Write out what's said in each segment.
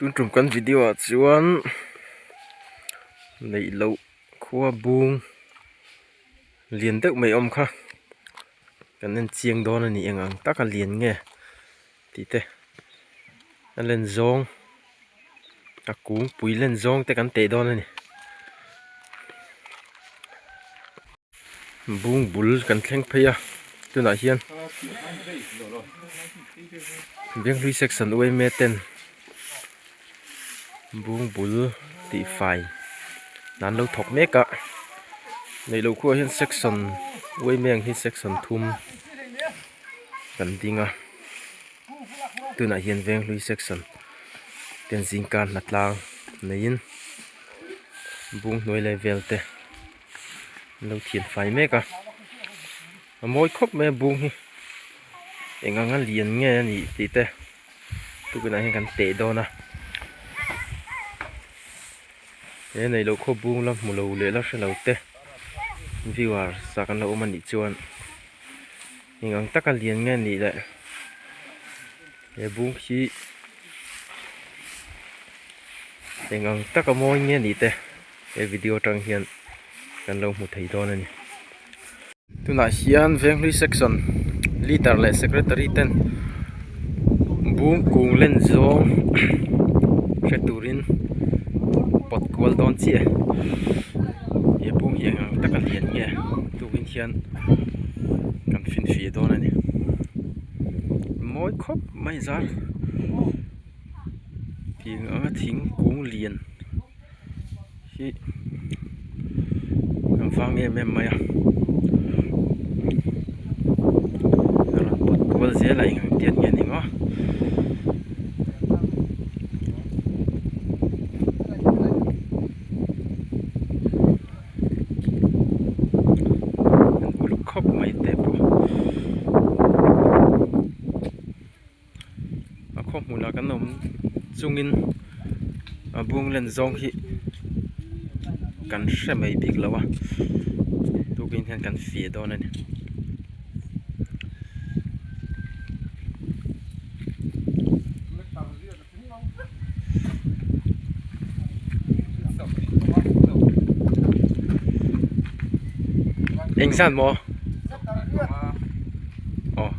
Tun tum kan video ah chuan neih loh khua bung lian deuh mai awm kha kan en chiang dawn a ni eng ang taka lian nge tih te a len zawng a kung pui len zawng te kan teh dawn a ni. bung bul kan thleng phei a tunah hian benghlui section uaime ten bung bul tih fai dan lo thawk mek a neih loh khua hian section uaime ang hian section thum kan ding a tunah hian venghlui section ten zingka hnathlang neiin bung hnuai leh velte-- a lo thian fai mek a a mawi khawp mai a bung hi eng anga lian nge a nih tih te tunah hian kan teh dawn a he neih loh khawp bung la hmu lo leh la hre lo te viewers ah kan lo awm a nih chuan-- Eng ang taka lian nge nih leh. He bung hi eng ang taka mawi nge nih te he video atang hian kan lo hmu thei dawn a ni. Tunah hian venghlui section leader leh secretary ten bung kung len zawng hre turin pawt kual dawn chiah e. He bung hi eng ang taka lian nge. Tukin hian kan fin fih dawn a ni mawi khawp mai zar tiang anga thingkung lian hi a vang em em mai a a rawn pawt kual zel a inang tiat nge ni maw. an uluk khawp mai te pawh a khawhmun ah kan awm chungin a bung len zawng hi kan hre mai bik lo a tukin hian kan fih dawn a ni. eng zan maw aw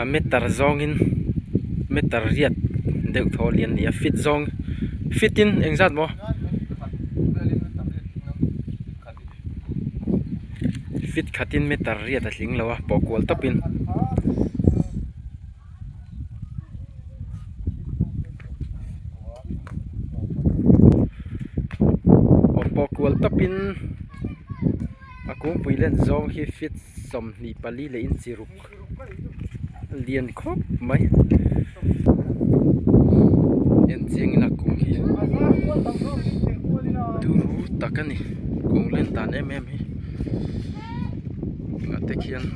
a meter zawngin meter riat deuh thaw a lian nia fit zawng fit in engzat maw. fit khatin meter riat a tling lo a pawh kual tawpin aw pawh kual tawpin a kung pui len zawng hi fit sawmhnih pali leh inchi ruk-- lian khawp mai en chiang ina kung hi turu tak a ni kung len dan em em hi hnahte khian --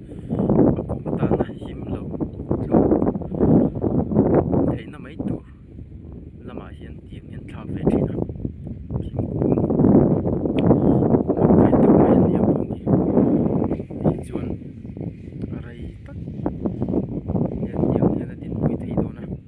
a kum tana him lo tlu theihna mai tur lamah hian tiang hian thlak ve thin a thingkung rawng êtawh mai a ni a pawh hi hei chuan rei tak hian tiang hian a dinpui thei dawn a.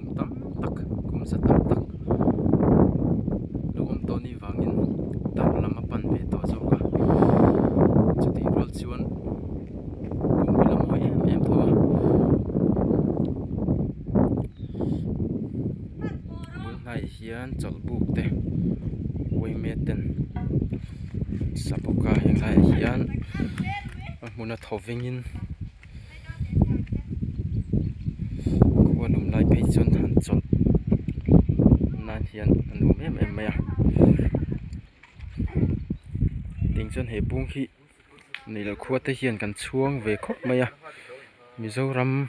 tam tak kum zet tam tak luhawm tawh ni vangin darh lam a pan ve tawh zawk a chutih rual chuan kum hi la mawi em em tho a a bul hnaiah hian chawlhbuk te buai met ten a sa bawk a heng haiah hian a hmun a tho vengin. khua lum lai phei chuan han chawlh nan hian a nuam em em mai a tiang chuan he bung hi neilo khua te hian kan chhuang ve khawp mai a mizoram--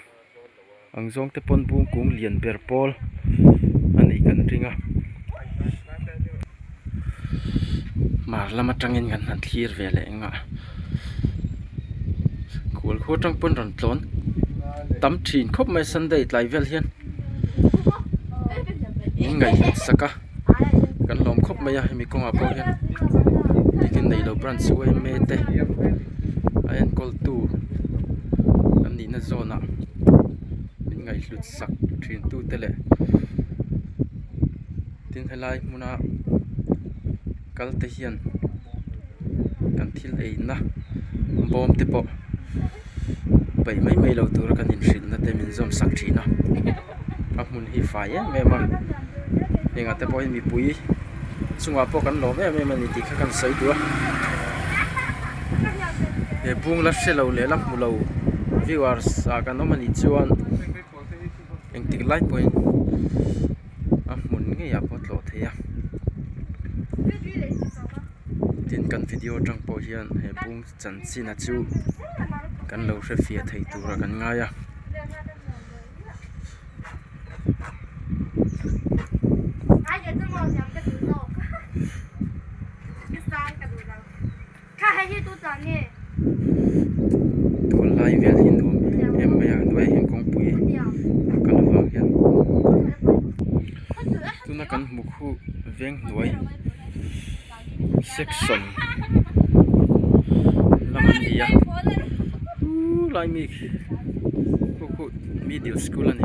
Ang zawng te pawn bung kung lian ber pawl a nih kan ring a, mar lam atangin kan han thlir ve leh nghah. Kual khaw atang pawh rawn tlawn tam thin khawp mai Sunday tlai vel hian in ngaihhliah sak a. kan lawm khawp mai a hemi kawngah pawh hian biakin neilo branch uaime te a enkawltu an nihna zawnah min ngaihhlut sak thintu te leh tin helai hmuna kalte hian kan thil eina bawmte pawh-- paih mai mai lo tura kan inhrinna te min zawm sak thin a a hmun hi fai em em a heng ah te pawh hi mipui chungah pawh kan lawm em em a ni tih kha kan sawi tih a he bungla hre lo lehla hmu lo viewers ah kan awm a nih chuan engtik lai pawhin a hmun ngei ah pawh a tlawh thei a tin kan video atang pawh hian he bung-- chanchinah chu kan lo hrefiah thei tura kan ngai a tun lai vel hi nuam em mai a hnuaiah hian kawngpui a kal avang hian tuna kan hmuh khu veng hnuai. section lam an ni a uu lai mi khaw khawih middle school a ni.